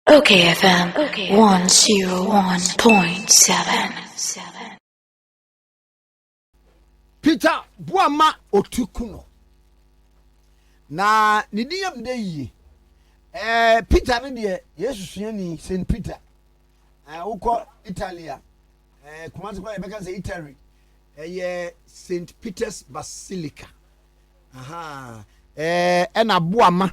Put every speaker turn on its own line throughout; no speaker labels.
Okay FM 101.7
Peter Boama Otukuno na ne din yam dɛ yie eh, Peter no deɛ Yesu suani Saint Peter eh, wokɔ Italia eh, Kumasi kora yɛbɛka sɛ Italy ɛyɛ eh, Saint Peter's Basilica ɛna eh, Boama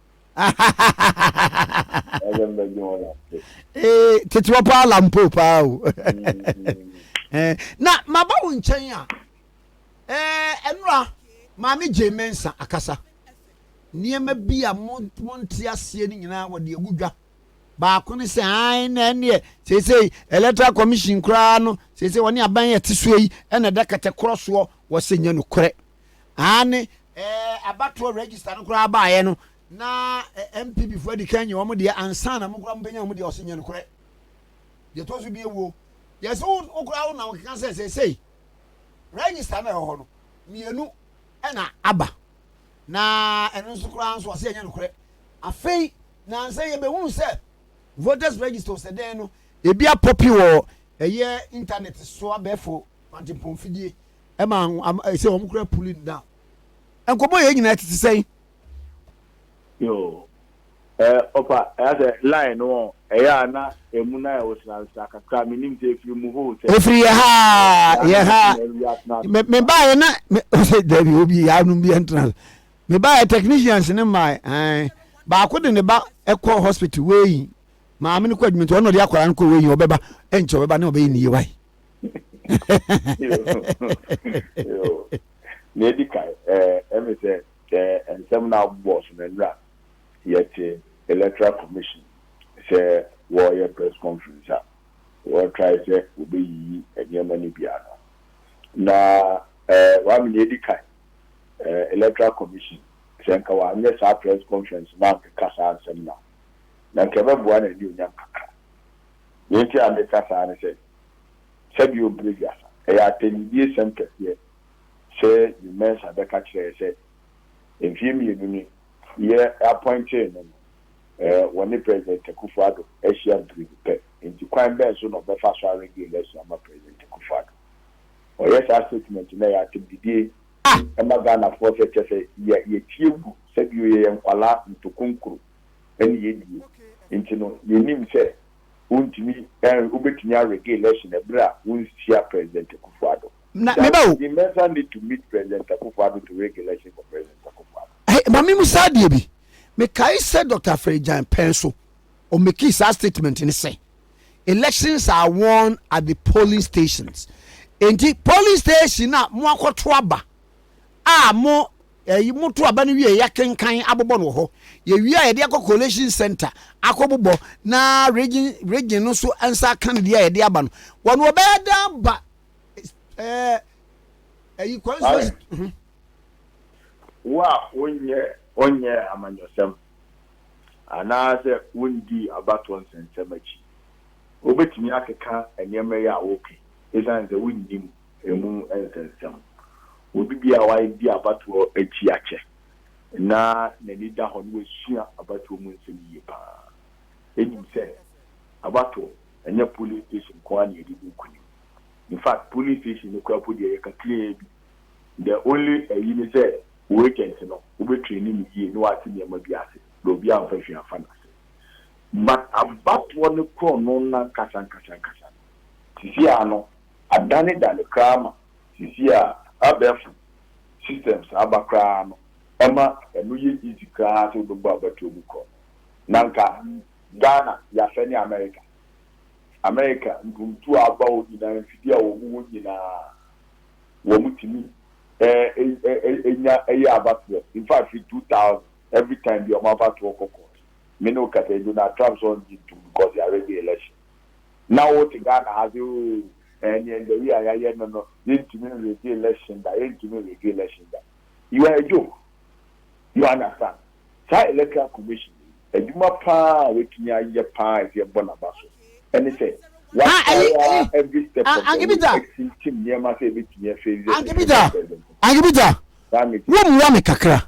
ee ketewa
paa lampo paa o eh, na maba wo nkyɛn a eh, ɛnora maame gye me nsa akasa nneɛma bi a monte aseɛ no nyinaa wɔde agu dwa baako ne sɛ ae na ɛneɛ seesei electoral commission koraa no seesei wɔne aban yɛ te soɔ yi ɛna ɛda kɛtɛkorɔ soɔ wɔsɛ nyɛ nokorɛ aane abatoɔ register no koraa baeɛ no na NPP foɔ adi kan nyɛ wɔn deɛ ansa na mo koraa mobɛnya wɔn deɛ ɔsɛ nyɛ nokorɛ deɛ ɛtɔ so bie wuo yɛsɛ wo koraa wo na wokeka sɛ seesei register no ɛwɔ hɔ no mmienu ɛna aba na ɛno nso koraa nso ɔsɛ nyɛ nokorɛ afei nansa yɛbɛhunu sɛ voters register ɔsɛ dɛn no ebi apɔpi wɔ ɛyɛ internet so abɛɛfo kwantempɔn fidie ɛma am ɛsɛ wɔn kura pulling down nkɔmɔ yɛn nyinaa tete sɛn. yoo
ɛɛ ɔfa ɛyà sɛ line no wɔn ɛyà na emu na ɛwɔ sinansina kakra mi nim sɛ efiri mu hoo sɛ. efiri yɛ ha
yɛ ha me me ba yɛ na me ɔsɛ dabi obi yɛ anum bi ɛntena me ba yɛ technicians ne mmaa ɛn baako de ne ba ɛkɔ hospital wei maame no kɔ adwuma nti ɔno de akwadaa no kɔ wei ɔbɛba ɛnkyɛ ɔbɛba ne ɔbɛyɛ ne yie wae.
na edi kan ɛmi sɛ sɛ nsɛm na abobɔ so na nnura yɛte electoral commission sɛ wɔyɛ press conference a wɔtrae sɛ wɔbɛyiyi nneɛma no bi ano na wɔame na edi kan electoral commission sɛ nka wɔanyɛ saa press conference na ankeka saa nsɛm na na nka ɛbɛboa na ɛne onyam kakra Nea enti a meka saa ne sɛ, sɛdeɛ ɔbrɛ wiasa, ɛyɛ atɛnnidiesɛm kɛseɛ sɛ Jim Mensah bɛka kyerɛ yɛn sɛ mfeɛ mmienu ni yɛ apɔintee no no, wɔne President Akufo-Addo ahyia mprenu pɛ. Enti kwan bɛn so na ɔbɛfa so arenge election ama President Akufo-Addo? Ɔyɛ saa statement no a, ɛyɛ atɛmdidie ma Ghanafoɔ sɛ kyɛsɛ yɛtie gu sɛdeɛ yɛyɛ nkwadaa ntokonkuro. ne yɛn die, nti no yɛnim sɛ wontumi ɛn wobɛtumi arege election ɛberɛ a wonhyia President Akuffo Addo. That he
Mensah need to meet
President Akuffo Addo to rege election for President Akuffo Addo. Hey, ma me musa
adeɛ bi. Mekae sɛ Dr. Afragyan pɛn so ɔmekii saa statement ne sɛ elections are won at the polling stations. Enti polling station a mo akɔto aba a mo Yɛyi moto aba no wie a yɛakenkan abobɔ no wɔ hɔ. Yɛwie a yɛde akɔ collation centre akɔbobɔ na region region no nso nsa aka no deɛ a yɛde aba no. Wɔn no wɔbɛyɛ dɛ aba ɛɛ ɛyi constituency.
Mhm. Wo a wonyɛ wonyɛɛ amanyɔsɛm anaasɛ wondii abatoɔ nsɛnsɛm akyi, wobɛtumi akeka nneɛma yi a woreka yi esiane sɛ wonnim Emu nsɛnsɛm. Obi biara a wadi abatoɔ akyi akyɛ na n'ani da hɔ na wasua abatoɔ mu nsɛm yie pa ara nim sɛ abatoɔ, ɛnyɛ polling station nko ara na yɛde di nkunim. In fact, polling station no koraa mpo deɛ ɛyɛ kakraa bi. The only ayi ne sɛ wo agent no, wobɛtraini no yie na wate nneɛma bi ase na obiara mfa hwee amfa no ase. But abatoɔ no korɔno no ankasa ankasa ankasa no, seesei ara no, Adanedane koraa ma sisi a abɛɛfo systems aba koraa no ɛma ɛno yɛ easy koraa sɛ wobɛbɔ abatuo mu korɔ na nka Ghana yɛasɛ ne America America mpuntuo a aba hɔ nyinaa mfidie a wɔn wɔ nyinaa wɔn tumi nya yɛ abatoɔ in fact firi 2000 every time bi wɔn abatoɔ kɔ court me ne wo kasa yi Donald Trump sɛ ɔngye ntom because yɛaregye election. na wote Ghana ha se oo ɛɛ neɛ ndawiri a yayɛ no no yɛntumi nrigi election da yɛntumi nrigi election da you are a joke you understand saa electoral commission yi adwuma paa a watumi ayɛ paa a ɛsɛ yɛbɔ naba so ɛne sɛ watry ara every step of the way ɛtintim nneɛma sɛ ɛbɛtumi afeeli ɛsɛ president
president saa meeting. Wo mmoa me kakra.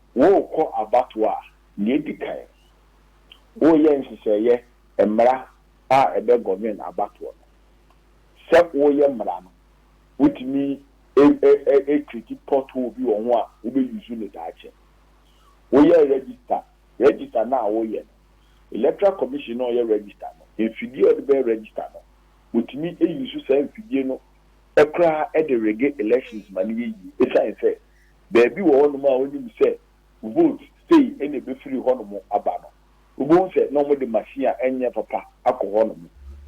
Worekɔ abatoɔ a, deɛ ɛdi kan, woreyɛ nhyehyɛeɛ mmara a ɛbɛ govern abatoɔ no. Sɛ woreyɛ mmara no, wotumi create pothole bi wɔ ho a wobɛ use no daakye. Woyɛ register, register no a woreyɛ no, Electoral Commission no a ɔyɛ register no, mfidie a ɔde bɛyɛ register no, wɔtumi use saa mfidie no koraa de rege elections ma no yɛ yie. Ɛsiane sɛ. baabi wɔ hɔnom a wonim sɛ vote sei na ebefiri hɔnom aba no, wubehu sɛ na wɔde machine a ɛnyɛ papa akɔ hɔnom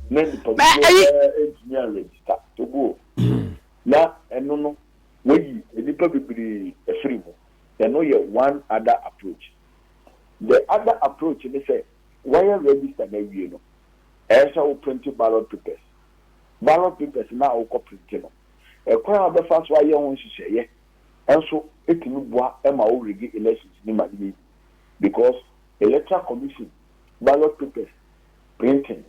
na nnipa dodoɔ no ara ntumi anregister. Togo, na ɛno no wɔayi nnipa bebree afiri mu. Ɛno yɛ one other approach. The other approach ne sɛ woayɛ register no awie no, ɛyɛ sɛ wo prente ballot papers. Ballot papers no a wokɔ prente no, Ɛkwan a wobɛfa so ayɛ ho nhyehyɛeɛ nso tumi boa ma wo rigi elections no ma no yɛ yie because electoral commission ballot papers printing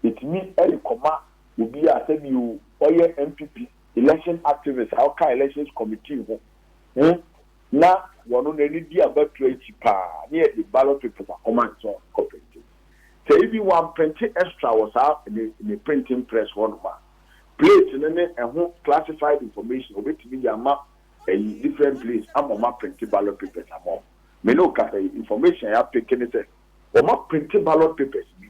ɛtumi de kɔma obi a sɛbi o ɔyɛ NPP election activist a ɔka elections committee ho ho na wɔno n'ani di abatoɔ akyi paa ne yɛde ballot papers akɔma ne sɛ ɔkɔ printing sɛ ebi wɔamprinte extra wɔ saa ne ne printing press hɔ nom a Plate no ne ɛho classified information obetumi de ama ayi different place ama ɔmo aprinte ballot papers ama ɔmo. Me ne wo kasa yi information a yɛapeke ne sɛ ɔmo aprinte ballot papers bi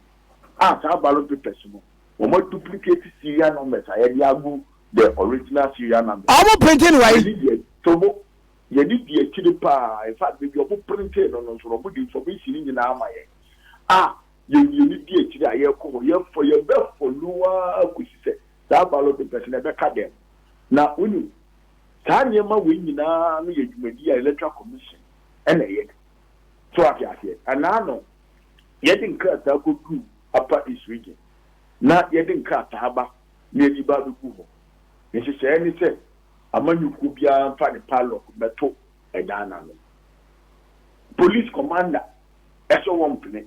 a saa ballot papers no ɔmo aduplicate serial numbers a yɛde agu the original serial numbers. Ɔmo printe no wai?
Tobo,
Yɛde di akyire paa. In fact baabi a ɔmo printee no no nso no ɔmo de information no nyinaa ma yɛn a Yɛn mmienu di akyire a yɛrekɔ hɔ, yɛfɔ, yɛbɛfɔ no ara kɔsi sɛ saa balo de bɛsɛ, na ɛbɛka dɛn? Na, wonim, saa nneɛma wei nyinaa no yɛ dwumadie a Electoral Commission na ɛyɛ no. So woate aseɛ? Ɛna ano, yɛde nkrataa kɔduru Upper East Region, na yɛde nkrataa ba, na yɛde ba abɛgu hɔ. Nhyehyɛeɛ ne sɛ amanyɔkuo biara mfa ne padlock mmɛto dan no ano. Police Commander ɛsɔ wɔn mpene.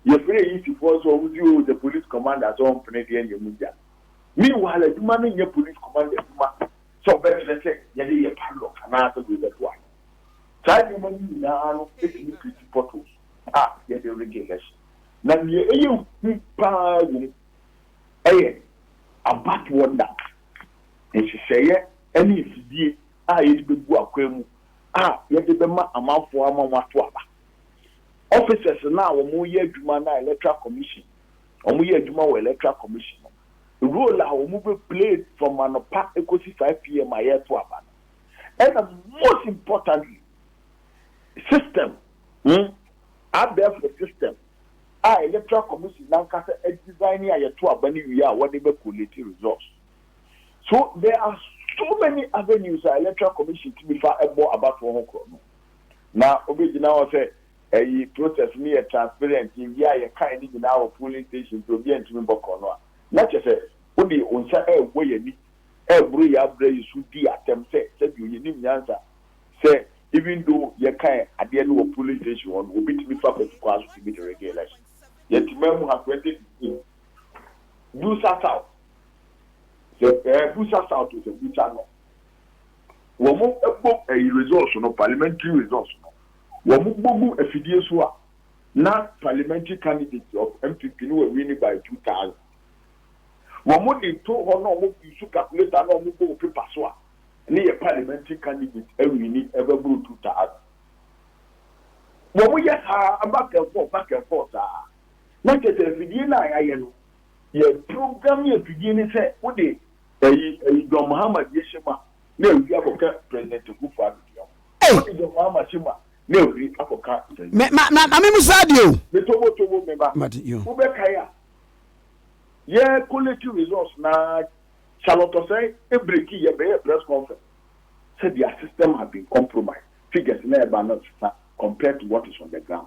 Yɛfrɛ eyi sifoɔ sɛ wɔn si oo the police commander sɛ ɔmpene deɛ nyɛ mu gya. Meanwhile adwuma no nyɛ police commander adwuma sɛ ɔbɛkyerɛ sɛ yɛde yɛ padlock anaa sɛ wei bɛto ano. Saa nneɛma no nyinaa no tumi create potholes a yɛde rig election. Na deɛ ɛyɛ hu pa ara wɔ mu yɛ abut wonder nhyehyɛeɛ ne mfidie a yɛde bɛgu akwan mu a yɛde bɛma amanfoɔ ama wɔato aba. Officers no a wɔyɛ adwuma na electoral commission, wɔyɛ adwuma wɔ electoral commission no, role a wɔn bɛ play from anɔpa ɛkɔsi 5 PM a yɛreto aba no, ɛna most importantly, system, hmm, abɛɛfo system a electoral commission nankasa adesign a yɛto aba no wie a wɔde bɛ collate results. So there are so many avenues a electoral commission tumi fa ɛbɔ abatoɔ ho korɔ no. na obegyina hɔ sɛ ɛyi process no yɛ transparent ewie a yɛkae ne nyinaa wɔ polling station nti obiara ntumi mbɔ korɔno a na kyerɛ sɛ wode wo nsa ɛrebɔ yɛn ani ɛreboro yɛn abrɛ yi so dii atɛm sɛ sɛdeɛ yɛnim nyansa sɛ even though yɛkae adeɛ no wɔ polling station hɔ no obi tumi fa patu kwan so tumi de rege election yɛte man mu ha 2016 Busa South sɛ ɛɛ Busa South o sɛ Busa North. wɔn bɔ ɛyi results no parliamentary results no wɔn bɔ gu afidie so a na parliamentary candidate of MPP no wɔ winning by two thousand wɔn de to hɔ na wɔn use calculator na wɔn bɔ wɔ paper so a ne yɛ parliamentary candidate awini ɛbɛboro two thousand wɔn yɛ saa back and forth back and forth saa na kyerɛ sɛ afidie no a yɛayɛ no Yɛ program yɛ fidie ne sɛ wode ɛyi ɛyi John Mahama deɛ hyɛ mu a na ɛfiri akɔka President Akuffo Addo deɛ ho. Ei! Wode John Mahama hyɛ mu a na ɛfiri akɔka President. Me ma ma ma me mu
saa deɛ o. Me tobo tobo me
ba. Mate yo. Wo bɛ kae a yɛ collate results na Charlotte Osei ɛbreki yɛ bɛ yɛ press conference sɛ their system have been compromised figures na ɛba no sesa compared to what is on the ground.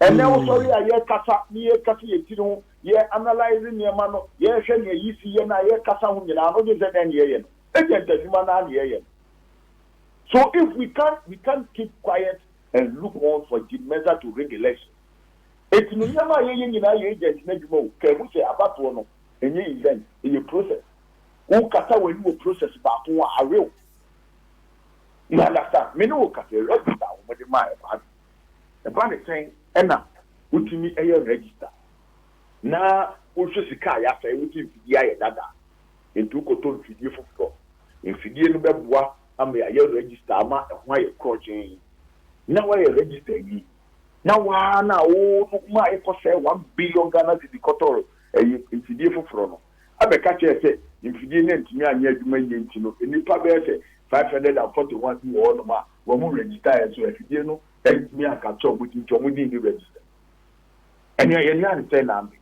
Ɛnnɛ wosɔre a, yɛkasa, ne yɛkasa yɛn tiri ho, yɛ analyse nneɛma no, yɛhwɛ nea ayi si yɛn a yɛkasa ho nyinaa no wogye sɛ dɛn na yɛyɛ no? Agent adwuma no ara na yɛyɛ no. So if we can't we can't keep quiet and look on for Jim Mensah to rig election. Enti no nneɛma a yɛyɛ nyinaa yɛ agent no adwuma o, ka ehu sɛ abatoɔ no ɛnyɛ event, ɛyɛ process. Wokata w'ani wɔ process baako ho a, awe wo. You understand? Me ne wo kasa yi, register a wɔde maaɛ no, awe. Ɛba no sɛn na wotumi yɛ register na wohwɛ sika a yɛasɛe, wogye mfidie ayɛ dada a, enti wokɔtɔ mfidie foforɔ. Mfidie no bɛboa ama yɛayɛ register ama ɛho ayɛ korɔgyenn na woayɛ register awie na wo ara no a wo no ma ayɛ kɔsɛe one billion Ghana cedi kɔtɔɔ ɛyi mfidie foforɔ no abɛka kyerɛ yɛ sɛ mfidie no antumi anyɛ adwuma yie nti no nnipa bɛyɛ sɛ five hundred and forty one bi wɔ hɔnom a wɔn register yɛ so afidie no ntumi anka kyɛw mo din nti wɔn din ni register ɛnea yɛn nan ne sɛ nan bi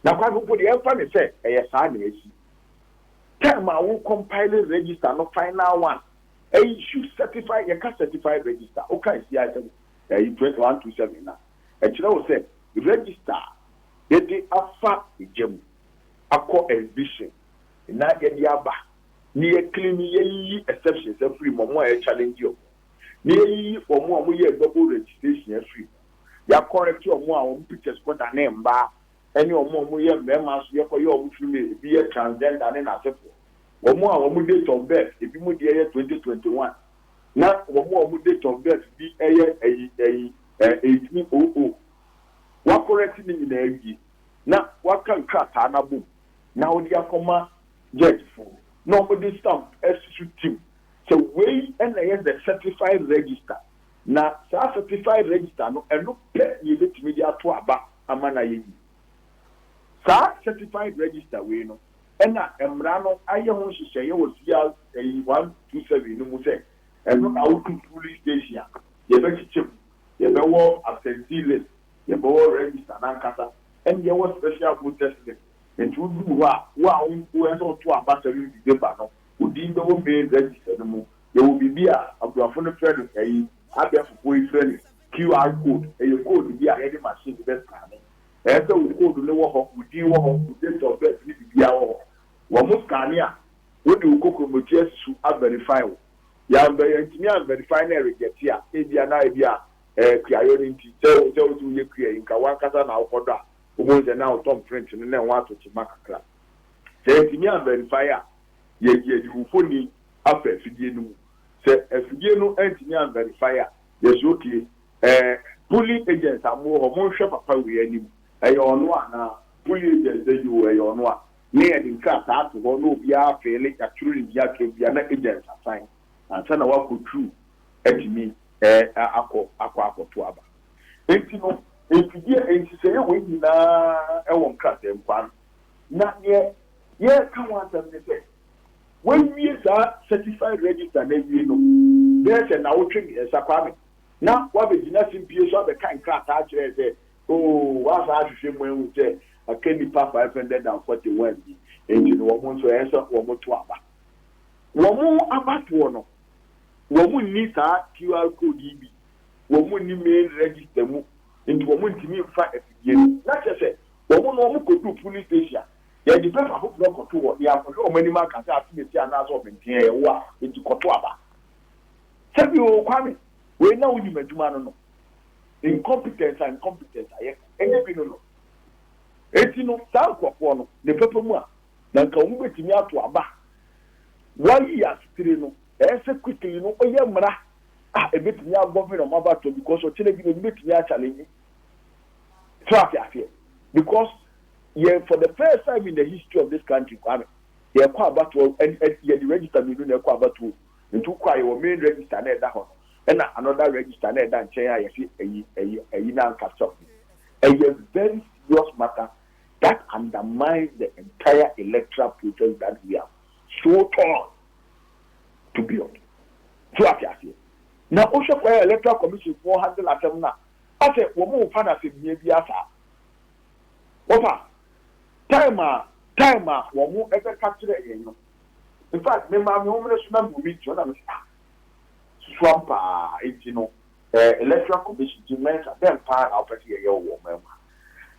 na kwan no mpo deɛ ɛmfa ne sɛ ɛyɛ saa na ɛsi time a wo compile register no final one ɛyi su certify yɛka certified register woka ɛsi ayɛ sɛ ɛyi twenty one two seven na ɛkyerɛ wo sɛ register a yɛde afa gya mu akɔ exhibition na yɛde aba na yɛ clean no yɛ yiyi exceptions afiri mu, ɔmo a yɛ challenge ɔmo no, na yɛ yiyi ɔmo a ɔmo yɛɛ double registration afiri mu, yɛ correct ɔmo a ɔmo pictures kɔ danee mbaa ɛne ɔmo a ɔmo yɛ mmɛɛma nso yɛ kɔ yɛ ɔmo filming, ebi yɛ transgender ne n'asefoɔ, ɔmo a ɔmo date of birth ebi mo deɛ yɛ twenty twenty one na ɔmo a ɔmo date of birth bi ɛyɛ ɛyi ɛyi ɛɛ eighteen oh oh, wa correct ne nyinaa awie na wa ka nkrataa no abom na wode akɔ ma Judgefo na wɔde stamp asi so tiw sɛ wei na ɛyɛ the certified register, na saa certified register no, ɛno pɛ na yebetumi de ato aba ama no ayɛ yiye. Saa certified register wei no na mmara no ayɛ ho nhyehyɛe wɔ CR ayi one two seven no mu sɛ ɛno na wodu polling station a, yɛbɛkyekyɛ mu, yɛbɛwɔ absentee list, yɛbɛwɔ register no ankasa, ɛnna yɛwɔ special voters list. Enti woduu hɔ a, wo a wo nko ɛsɛ ɔto abasa no dide ba no, wo din bɛwɔ male register no mu. Yɛwɔ biribi a aborɔfo no frɛ no ɛyi, abɛɛfofoɔ yi frɛ no QR code, ɛyɛ code bi a yɛde machine bi bɛscanne. Ɛyɛ sɛ wo code no wɔ hɔ, wo din wɔ hɔ, wo date of birth ne biribiara wɔ hɔ. Wɔn scanne a, wode wo kokromoti asi so a verify wo. Yɛanvɛ yɛantumi anverify na ɛrejɛte a, ebia na ebia ɛɛ kuayɔ no nti, sɛ wohu sɛ wose woyɛ kua yi, nka wo ankasa na wokɔdɔ a, Wobɛhu sɛ na ɔtɔn print no na ɛho atɔ kyema kakra. Sɛ yɛantumi anvɛrifae a, yɛayi ayi wo mfoni afa afidie no mu. Sɛ afidie no antumi anvɛrifae a, yɛse okay. Ɛɛ Pulli agents a mowɔ hɔ, monhwɛ papa wei anim. Ɛyɛ ɔno anaa? Pulli agents sɛ yoo ɛyɛ ɔno a, na yɛde nkrataa ato hɔ na obiara afeele, yɛatwerɛ ne din akyerɛ obiara na agents asan ansa na wakɔ tru atumi akɔ akɔto aba. Enti no, mfidie nhyehyɛeɛ wei nyinaa wɔ nkrataɛmfa no. Na deɛ yɛreka ho asɛm ne sɛ, woawie saa Certified Register no awie no bɛyɛ sɛ nnawotwe mmiɛnsa, Kwame, na woabɛgyina simpie so abɛka nkrataa akyerɛ sɛ, oo, woasan ahwehwɛ mu ahu sɛ aka nnipa 541 bi, enti no wɔn nso ɛyɛ sɛ wɔto aba. Wɔn abatoɔ no, wɔnni saa QR code yi bi wɔn nni main register mu nti wɔn ntumi nfa afidie no na kyerɛ sɛ wɔn na wɔn kɔduru polling station a yɛde bɛfa afoforɔ kɔto hɔ na yɛakɔhwɛ wɔn anim aka sɛ atenetee anaasɛ ɔbenteɛ yɛ wo a nti kɔto aba sɛbi oo Kwame wei na wonim adwuma no no incompetence a incompetence a yɛ ɛnyɛ bi no no enti no saa nkurɔfoɔ no ne pɛpɛ mu a na nka wɔn bɛtumi ato aba wɔayi asetire no ɛyɛ sɛ quickly no ɔyɛ mmara ah ebetumi a govern ɔmo abatoɔ because ɔkyena bi no obi betumi a challenge so ate aseɛ because yɛ for the first time in the history of this country kwame yɛkɔ abatoɔ ɛn ɛn yɛde register mmienu na ɛkɔ abatoɔ nti wokɔ a yɛwɔ main register na ɛda hɔ no ɛna another register na ɛda nkyɛn a yɛsi ɛyi ɛyi ɛyi na ankasa ho ɛyɛ very serious matter that undermines the entire electoral process that we have so torn to build. So wate aseɛ? Na wo hwɛ kwan a electoral commission foɔ handle asɛm no a, asɛ wɔn mfa no asɛmhia biara saa. Wɔfa time a time a wɔn bɛka kyerɛɛ yɛn no. In fact me maame wɔn mmra so na me read so na me se ah susu ampa ara nti no eh electoral commission nti Mensah dɛn paa na wopɛ sɛ yɛyɛ wɔ wɔn man mu ha?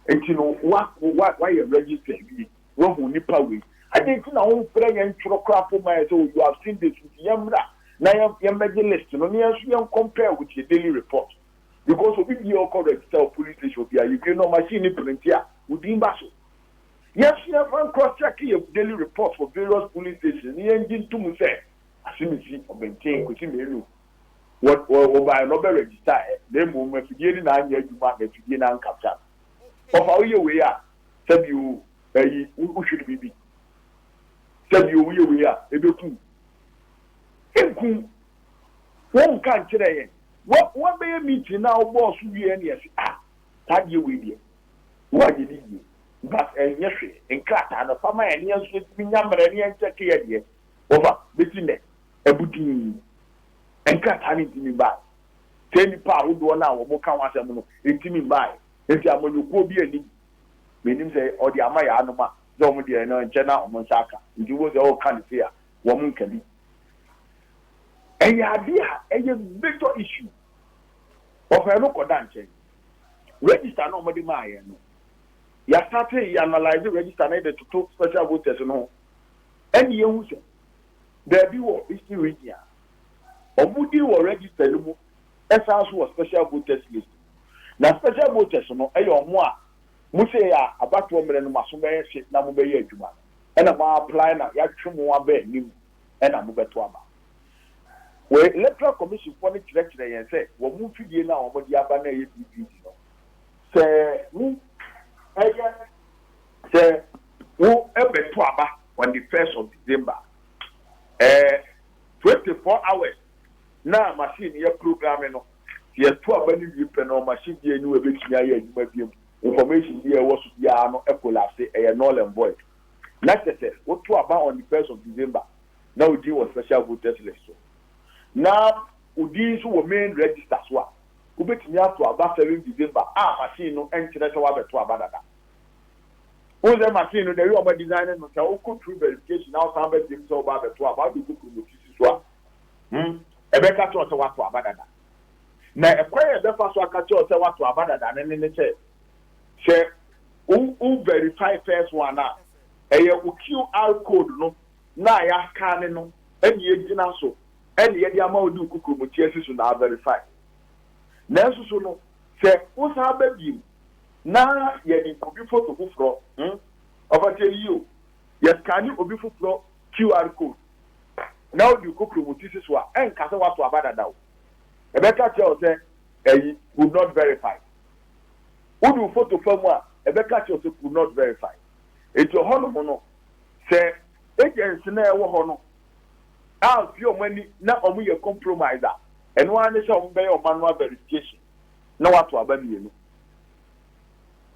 Nti no wa wa wayɛ register awie. Wahu nipa wei. Adɛn nti na womfrɛ yɛn ntwerɛ koraa mpo mma yɛn sɛ oh you have seen this nti yɛmmra na yɛmmɛgye list no na yɛn nso yɛn compare with your daily report because obi biara ɔkɔ register wɔ police station obi a yɛwie no machine no printe a wo din ba so. Yɛn nso yɛmfa ncross check yɛn daily report for various police stations na yɛngye ntom sɛ Asemesi, Ɔbɛnten, Kwesi Manu wɔ wɔbaeɛ no ɔbɛ register ɛ na mmom afidie no na anyɛ adwuma na afidie no ancapture no. Wɔfa woyɛ wei a sɛbi o ɛyi wo wo hwiri bibi sɛbi o woyɛ wei a ebeku nku wɔn nka nkyerɛ yɛn wɔn wɔn bɛyɛ meeting na ɔbɔɔ so wie ɛne ɛsi a saa deɛ wei deɛ wo a yɛ ni yie but ɛnyɛ hwee nkrataa no fa ma yɛn ne yɛn nso yɛtumi nya mmerɛ ne yɛn nkyɛ ke yɛ deɛ wɔfa bɛsi nɛ ɛbudin nkrataa no ntumi baa sɛ nipa ahodoɔ no a wɔn ka ho asɛm no ntumi baa Enti amanyɔkuo bi anim, menim sɛ ɔde ama yɛn anom a, sɛ wɔn deɛ no nkyɛ na wɔn nsa aka. Nti wobɛhu sɛ ɔreka no sei a, wɔn nka bi. Ɛyɛ adeɛ a ɛyɛ major issue. Wɔfa yɛn no kɔ da nkyɛn. Register no a wɔde maa yɛn no, yɛastate yɛ analyse register no de toto special voters no ho, ɛnna yɛahu sɛ baabi wɔ Eastern Region a, wɔn din wɔ register no mu Ɛsan nso wɔ special voters list mu. Na special voters no yɛ wɔn a mo sei a abatoɔ mmerɛ no mo aso bɛyɛ hye na mo bɛyɛ adwuma no ɛna mo a apply na yɛatwe mo aba anim ɛna mo bɛto aba. Wei electoral commission foɔ no kyerɛkyerɛ yɛn sɛ wɔn mfidie no a wɔn de aba no a ɛyɛ BVD no sɛ wo ɛyɛ sɛ wo ɛbɛto aba on the first of December ɛɛ twenty four hours na machine no yɛ programme no, sɛ yɛto aba no wie pɛ no machine biara nni hɔ a ɛbɛtumi ayɛ adwuma biom, information biara a ɛwɔ so biara no collapse, ɛyɛ null and void. Na kyerɛ sɛ woto aba on the first of December, na wo din wɔ special voters list so, na wo din nso wɔ main register so a, wobɛtumi ato aba seven December a machine no nkyerɛ sɛ woabɛto aba dada. Wohu sɛ machine no the way wɔadesign no, sɛ wokɔ through verification na wosan ba biom sɛ wobɛabɛto aba, wode kɔ promote si so a, Hmm, ɛbɛka kyerɛ wo sɛ woato aba dada. Na ɛkwan a ɛbɛfa so aka kyerɛ wo sɛ woato aba dada no ne ne sɛ, sɛ wo wo verify first one a, ɛyɛ wo QR code no na a yɛaskane no ɛna yɛgyina so ɛna yɛde ama wo de wo kukurumuti asi so na averify. Nanso so no, sɛ wosan ba bio na yɛde obi foto foforɔ, hmm, ɔfa tie no yie o, yɛskane obi foforɔ QR code na wode wo kokro wo tisi so a, ɛnka sɛ woato aba dada o. Ɛbɛka kyerɛ wo sɛ ayi, could not verify. Wode wo foto fa mu a, ɛbɛka kyerɛ wo sɛ could not verify. Enti ɔhɔnom no, sɛ agents no a ɛwɔ hɔ no amfi wɔn ani na wɔyɛ compromise a, ɛno ara ne sɛ wɔbɛyɛ wɔn manual verification na wɔato aba mmienu.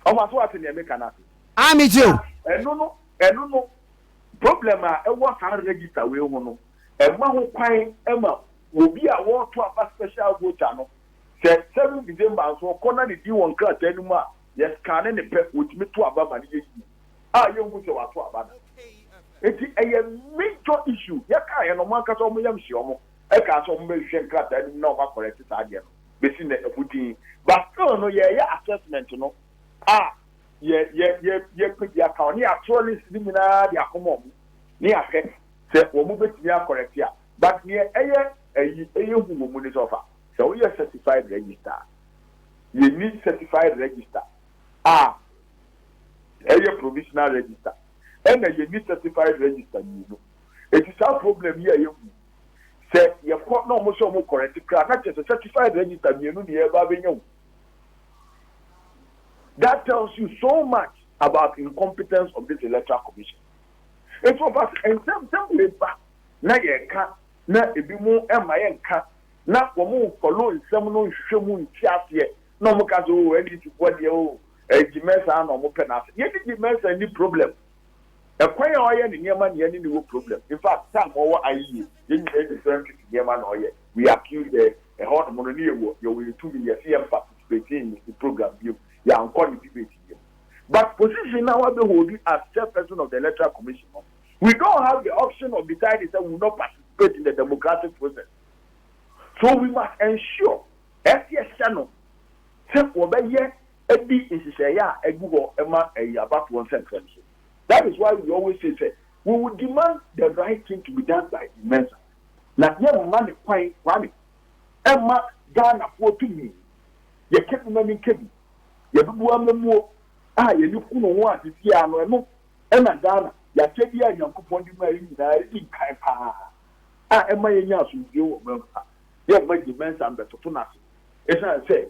Ɔfa so ate nea meka no ase? Ah, megye o.
Ɛno no,
ɛno no. Problem a ɛwɔ saa register wei ho no, ɛmma ho kwan ma obi a wɔreto aba special voter no, sɛ seventh December nso ɔkɔ na ne din wɔ nkrataa no mu a, yɛ scanne no pɛ, wɔtumi to aba ma no yɛ yie a yɛnhu sɛ wɔato aba da. Enti ɛyɛ major issue. Yɛkaeɛ no, wɔn ankasa wɔn yam hyee wɔn, ɛkaa sɛ wɔbɛhwehwɛ nkrataa no mu na wɔacorrect saa adeɛ no, bɛsi nnɛ, ɛho dinn. But still no, yɛreyɛ assessment no a, yɛ yɛ yɛ yɛpɛ bi aka wɔn ne yɛatwerɛ list no nyinaa de akɔma wɔn ne yɛahwɛ sɛ wɔn bɛtumi akɔrɛte a but neɛ ɛyɛ ayi ɛyɛ hu wɔ mu ne sɛ ɔfa sɛ woyɛ certified register a yɛnni certified register a ɛyɛ provisional register ɛna yɛnni certified register mmienu ɛti saa problem yi a yɛhu sɛ yɛkɔ na wɔn sɛ wɔn kɔrɛte koraa na kyɛ sɛ certified register mmienu ne yɛba abɛnya wu That tells you so much about incompetence of this electoral commission. Nti ɔfa sɛ nsɛm sɛm wei ba na yɛka na ebi mu ɛma yɛ nka na wɔn follow nsɛm no nhwehwɛ mu nti aseɛ na wɔn ka sɛ o oh, NDC foɔ deɛ o oh, eh, Gyimɛnsa na wɔn pɛ n'ase. Yɛn ne Gyimɛnsa ni problem. Ɛkwan a ɔyɛ ne nneɛma ne yɛne no wɔ problem in fact time a ɔwɔ ayɛ yie yɛn nyinaa yɛ different pipi nneɛma na ɔyɛ we accuse her ɛhɔ nom no ne yɛwɔ yɛwɔ yɛn tumi yɛse yɛn participate in ne program biom yɛankɔ ne debate biom but position no a wabɛ holdi as chairperson of the electoral commission no we don't have the option of deciding sɛ we will not participate in the democratic process so we must ensure ɛse yɛhyɛ no sɛ wɔbɛyɛ di nhyehyɛe a egu hɔ ma ayi abafoɔ nsɛmfɛm so. That is why we always say sɛ, we will demand the right thing to be done by Dean Mensah. Na yɛmma no kwan, Kwame, ɛmma Ghanafoɔ tumi, yɛ kɛbi ma min kɛbi, yɛ dodoɔ amammuo a yɛne hu no ho ade biara no, ɛno na Ghana, yɛ akyɛdeɛ a Nyankopɔn de maa yɛn nyinaa, ɛdi nkan paa a ɛmma yɛnya asomdwoeɛ wɔ ɔman mu ha. Yɛmma Dean Mensah mmɛtoto no ase, ɛsiane sɛ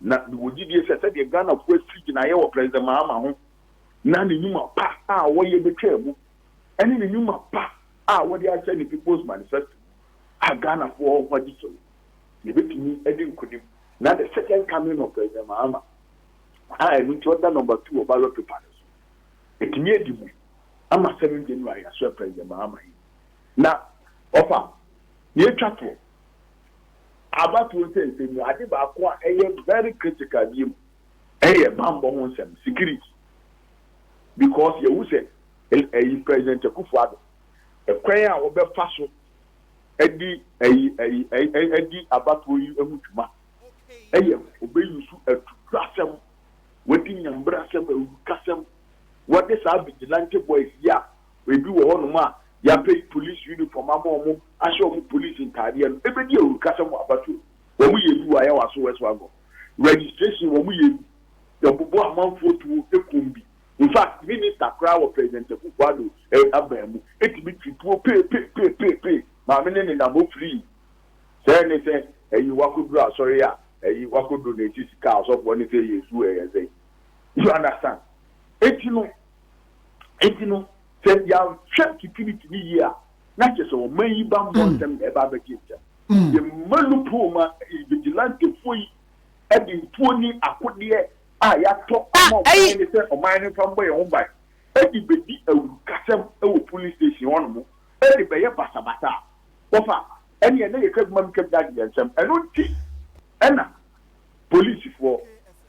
Na mewɔ gyidie sɛ sɛdeɛ Ghanafoɔ asi gyinaeɛ wɔ President Mahama ho na ne nnwuma pa a wɔyɛ bɛtwaa mu ɛne ne nnwuma pa a wɔde ahyɛ ne People's Manifesto a Ghanafoɔ ho agye so no, yɛbɛtumi adi nkonim na the second coming of President Mahama a ɛno nti ɔda number two wɔ ballot paper no so atumi adi mu ama 7 January yɛasoɛ President Mahama yi na ɔfa na yɛtwa toɔ. Abatoɔ nsɛnsɛm mu ade baako a ɛyɛ very critical biom ɛyɛ banbɔ ho nsɛm, security. Because yɛhu sɛ ɛyi President Akuffo Addo ɛkwan a ɔbɛfa so ɛdi ɛyi ɛyi ɛyi ɛdi abatoɔ yi ɛho dwuma ɛyɛ ɔbɛ use atubrasɛm, wadi nyambrasɛm, awurukasɛm, wɔde saa vigilante boys yi a Ebi wɔ hɔnom a, yɛapɛn polisi unifɔm ama wɔn ahyɛ wɔn polisi ntadeɛ no bɛdi awurukasɛm wɔ abatoɔ mu. Wɔyɛ bi wɔ Ayawaso West Wagon Registration, wɔyɛ bi, yɛbobɔ amanfoɔ tuo kum bi. In fact, Minista koraa wɔ President Akufo-Addo aban mu tumi tu tuo peepeepeepeepee ma me ne ne nam hɔ firii. Sɛ ne sɛ ɛyi wakɔduru asɔre a, ɛyi wakɔduru na ɛsi sika a ɔsɔfoɔ ne sɛ yɛnsu ɛyɛ sɛn? You understand? Enti no, Enti no, sɛ yɛanhwɛ security no yie a, na kyerɛ sɛ ɔman yi bammɔ ntɛm na ɛba abɛgye ntɛm. Yɛmma loophole ma vigilantefoɔ yi de ntuo ne akodeɛ a yɛatɔ ama ɔman no sɛ ɔman no mfa mmɔ yɛn ho ban de bɛdi awurukasɛm wɔ polling station hɔnom de bɛyɛ basabasa a, wɔfa a, ɛnneɛ na yɛka bi ma meka bi na agye yɛn nsam. Ɛno nti na. Polisifoɔ,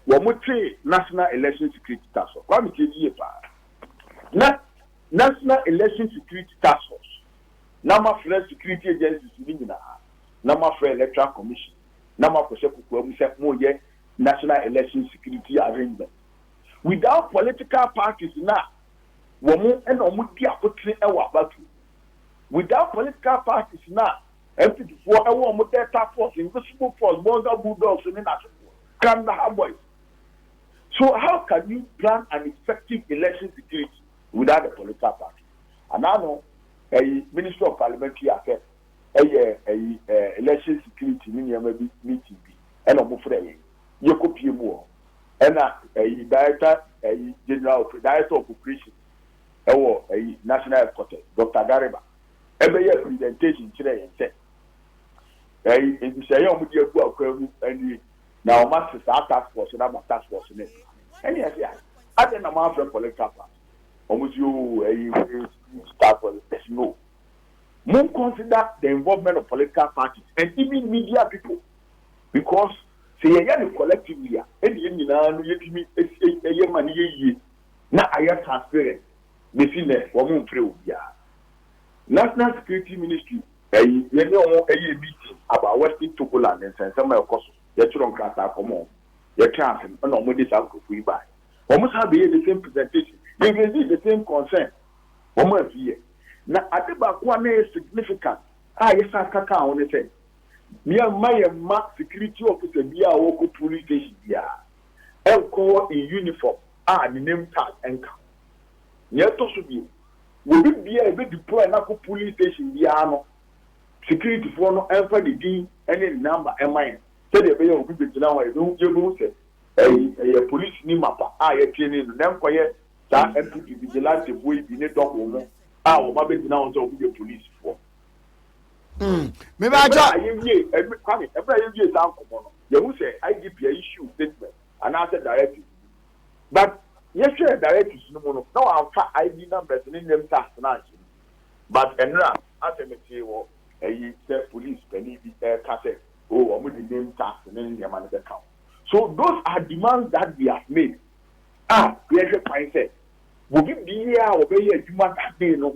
wɔtee National Election Security Task Force. Kwame, tie me yie pa ara. Na National Election Security Task Force, na moafrɛ security agencies no nyinaa, na moafrɛ Electoral Commission, na moakɔhyɛ kokoa mu sɛ moreyɛ National Election Security Arrangement without political parties no a wɔn na wɔdi akotene wɔ abatoɔ mu, without political parties no a Ampidfoɔ wɔ wɔn Delta Force, Invisible Force, Bolga Bulldogs ne n'asefoɔ, Kandahar Boys. So how can you plan an effective election security without the political party? Anaa no ɛyi Ministry of Parliamentary Affairs ɛyɛ ɛyi ɛɛ election security ne nneɛma bi meeting bi ɛna wɔn frɛ yɛn yɛ kɔ pie mu wɔ hɔ ɛna ɛyi Director ɛyi General Director of Operations ɛwɔ ɛyi National Headquarters Doctor Gariba bɛyɛɛ presentation kyerɛɛ yɛn sɛ, Ɛɛ, nhyehyɛe a wɔde agu akwan mu nie, na wɔate saa task force no ama task force no adi. Ɛne yɛse, Ah, adɛn na moamfrɛ political party? Wɔse, Oh, ɛyɛ hwee, security task force. Yɛse, No. Mo consider the involvement of political parties and even media people because sɛ yɛyɛ no collectively a, ɛne yɛn nyinaa no yɛtumi yɛ ma no yɛ yie na ayɛ transparent. Besi nnɛ wɔn mfrɛ obiara. National security ministry ɛyi yɛne wɔn ɛyɛɛ meeting about western Togoland ne nsɛnsɛm a ɛkɔ so. Yɛtwerɛ nkrataa kɔma wɔn. Yɛtwɛn asɛm ɛna wɔn de saa nkurɔfoɔ yi baeɛ. Wɔn san bɛyɛɛ the same presentation. Yɛ raisee the same concern. Wɔn amfieɛ. Na ade baako a na ɛyɛ significant a yɛsan ka kaa ho ne sɛ, yɛmma yɛn mma security officer biara a ɔkɔ polling station biara ɛnkɔ hɔ in uniform. a ne name tag nka ho. Nea ɛtɔ so bio, wɔ bebia a yɛbɛ deploy no akɔ polling station biara no, securityfoɔ no mfa ne din ne ne number mma yɛn sɛdeɛ ɛbɛyɛ a obi begyina hɔ a yɛbɛhu yɛbɛhu sɛ ɛyi ɛyɛ polisini mapa a yɛtraini no na ɛnkɔyɛ saa mpp vigilantefoɔ yi bi ne double no a wɔn abɛgyina hɔ sɛ wɔn yɛ polisifoɔ. Mm.
Mebɛatwa. Ɛberɛ a yɛwie,
ɛberɛ a yɛwie saa nkɔmmɔ no, yɛhu sɛ IGP a issue statement anaasɛ directories bi. But yɛhwɛɛ directories no mu no na wɔamfa ID numbers ne name tags no anhyɛ mu. But ɛnora asɛ metee wɔ ayi sɛ police panin bi reka sɛ oh wɔde name tags ne nneɛma no bɛka ho. So those are demands that we have made a yɛhwɛ kwan sɛ bobi biara a wɔbɛyɛ adwuma that day no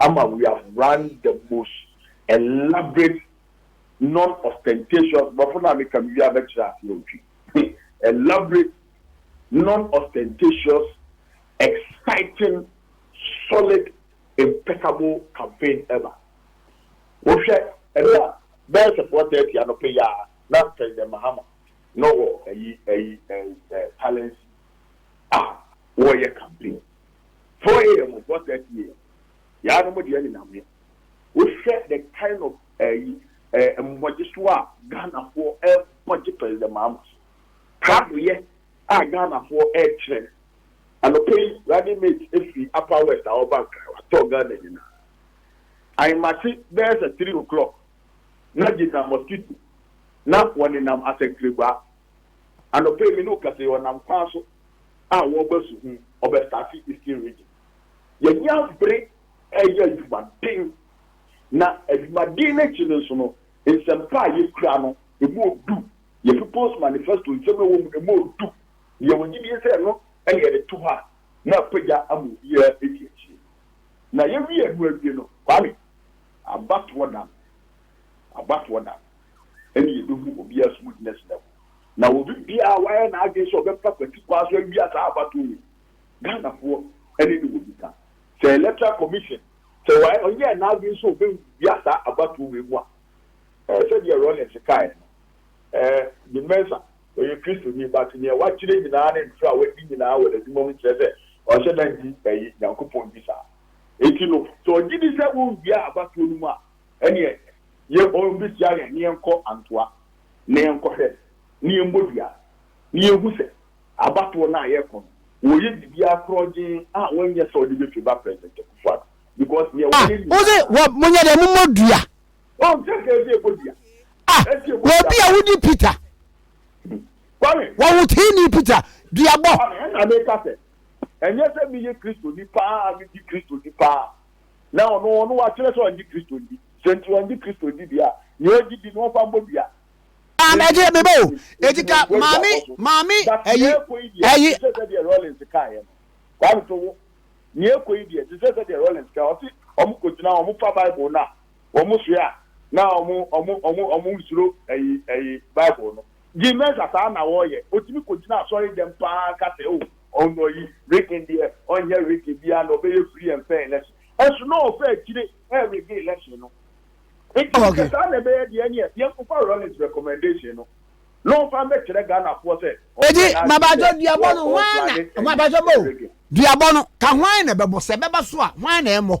ama we have run the most elaborate non ostentatious borɔfo no a meka no wie a mɛkyerɛ aseɛ ɔtwi elaborate non ostentatious exciting solid impeccable campaign ever wohwɛ ɛnna bɛyɛ sɛ 4:30 anɔpɛ yi a na president mahama na ɔwɔ ayi ayi ɛ ɛ talents a wɔreyɛ campaign Four AM four thirty AM yaa nom deɛ ɛne nam he. Wo hwɛ the kind of ɛyi ɛɛ mmɔgye so a Ghana foɔ ɛɛbɔ gye President Mahama so. Prado yɛ a Ghana foɔ ɛɛkyerɛ no. Anɔpa yi running mate ɛfiri Upper West a ɔɔba Nkran watɔɔ Ghana nyinaa. Ahemakye bɛyɛ sɛ three o clock na gyina mosquito na wɔne nam asɛnkregwaa. Anɔpa yi me ne wo kasa yi ɔnam kwan so a wɔba su ho ɔbɛ starte eastern region yɛnya bere ɛyɛ adwumaden na adwumaden no akyi no nso no nsɛmpa a yɛkura no ɛmu ɔdu yɛ people's manifesto nsɛm ɛwɔ mu no ɛmu ɔdu yɛ wɔ gyidie sɛ ɛno ɛne yɛde to hɔ a na apagya ama obiara ɛdi akyire na yɛwie ɛno awie no kwame abatoɔ da no abatoɔ da no. ɛne yɛbɛhu obiara som gyinagyina mu. Na obi biara a wayɛ n'adwene sɛ ɔbɛfa kwati kwan so awia saa abatoɔ yi, Ghanafoɔ ne no wɔ nika. Sɛ Electoral Commission, sɛ wayɛ ɔnyɛɛ n'adwene sɛ ɔbɛwia saa abatoɔ wei mu a, eh, sɛdeɛ Rawlings kaeɛ no, eh, Jim Mensah, ɔyɛ Kristoni, but deɛ wakyerɛ nyinaa ne ntorɔ a wadi nyinaa wɔ n'adwuma mu kyerɛ sɛ ɔnhyɛ da nni, eh, Nyankopɔn di saa. Enti no, sɛ ɔgye di sɛ wɔnwia abatoɔ no mu a, Ɛneɛ yɛn o bɛhyia yɛn na yɛnkɔ Antoa na yɛnkɔhwɛ na yɛmmɔ dua na yɛhu sɛ abatoɔ no a yɛrekɔ no wɔyɛ biribiara korɔgyenn a wɔnyɛ sɛ wɔde bɛtwe ba President Akufo Addo because neɛ Ah! wɔyɛ nyinaa Wose wɔ
monyɛ dɛn momɔ dua? Ɔn sɛ sɛ
ɛsɛ yɛbɔ dua Ah! ɛsɛ yɛbɔ dua
Wɔbi a paa. wodi Peter Kwame, wɔhoteeni Peter duabɔ. Kwame, ɛna meka sɛ
ɛnyɛ sɛ meyɛ Kristoni paa a medi Kristoni paa a na ɔno ɔno wakyerɛ sɛ ɔngye Kristo ndi. Sɛ nti ɔngye Kristo ndi deɛ a, nea ɔgye di no ɔmfa mmɔ dua. Maa me ɛgye
me bɛ o, eti ka maa me maa me ɛyi ɛyi. Te sɛ sɛdeɛ Rawlings
kaeɛ no, Kwame to wo, nea ɛrekɔ yi deɛ, te sɛ sɛdeɛ Rawlings kaeɛ, ɔse wɔkɔgyina hɔ, wɔfa Bible no a, wɔsoɛ a, na wɔn wɔn wɔn wɔn nsuro ɛyi ɛyi Bible no. Jim Mercer saa na ɔyɛ. Otumi kogyina asɔre dɛm paa ka sɛ, Oh, ɔnnɔ yi, reggae deɛ, ɔnyɛ reggae biara na ɔbɛyɛ free and fair election. Nso na ɔfa akyire ɛyɛ reggae election no. Nti sɛ saa na ɛbɛyɛ deɛ ɛneɛ yɛnkɔfa Rawlings recommendation no na ɔmfa mmɛkyerɛ Ghanafoɔ sɛ ɔnyɛ Ɛdi, n'adwene sɛ mabajɔ
duabɔ ɔɔ, no, hwan na, ɔɔplane ɛma, mabajɔ ɛnyɛ bɔ o, reggae. duabɔ no, ka hwan na ɛbɛbɔ, sɛ ɛbɛba so a, hwan na ɛmmɔ?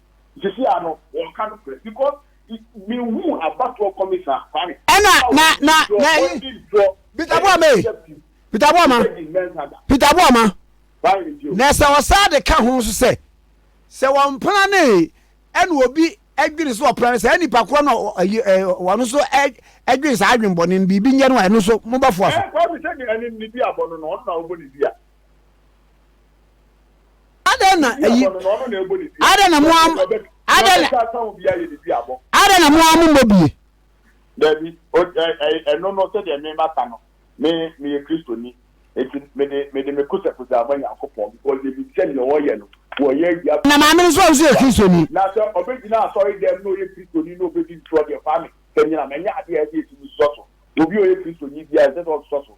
Sisi a no wɔn ka nokorɛ because me hu abatoɔ kɔmi saa kwame. Ɛna na na
na yi Peter Boa ma yi Peter Boa ma Peter Boa ma na sɛ ɔsaa de ka ho nso sɛ sɛ wɔn mpana ne ɛna obi ɛdwene so ɔpana ne sɛ ɛnipa korɔ na ɛyi ɛ wɔn nso ɛ ɛdwene saa adwene bɔne no biribi nyɛ no a ɛno nso mo bɛfoa so. Ɛɛ kwame sɛ ne ɛne ne
bi abɔ no na ɔno na ɔbɔ ne dua.
Adɛn na ayi adɛn na mo am adɛn na adɛn na mo amu mmɔ bie. Dabi,
ɛno no sɛdeɛ me maka no, me meyɛ Kristoni, enti mede mede me kosakusa ama Nyankopɔn because menim sɛ deɛ ɔyɛ no wɔyɛ awia. Na maame no nso a ɔnso yɛ
Kristoni. Na sɛ ɔbɛgyina
asɔre dɛm na ɔyɛ Kristoni na ɔbɛdi ntorɔ deɛ, Kwame, kanyina, manya adeɛ a ɛsɛ yɛtumi sosɔ so. Obi a ɔyɛ Kristoni biara ɛsɛ sɛ ɔsosɔ so.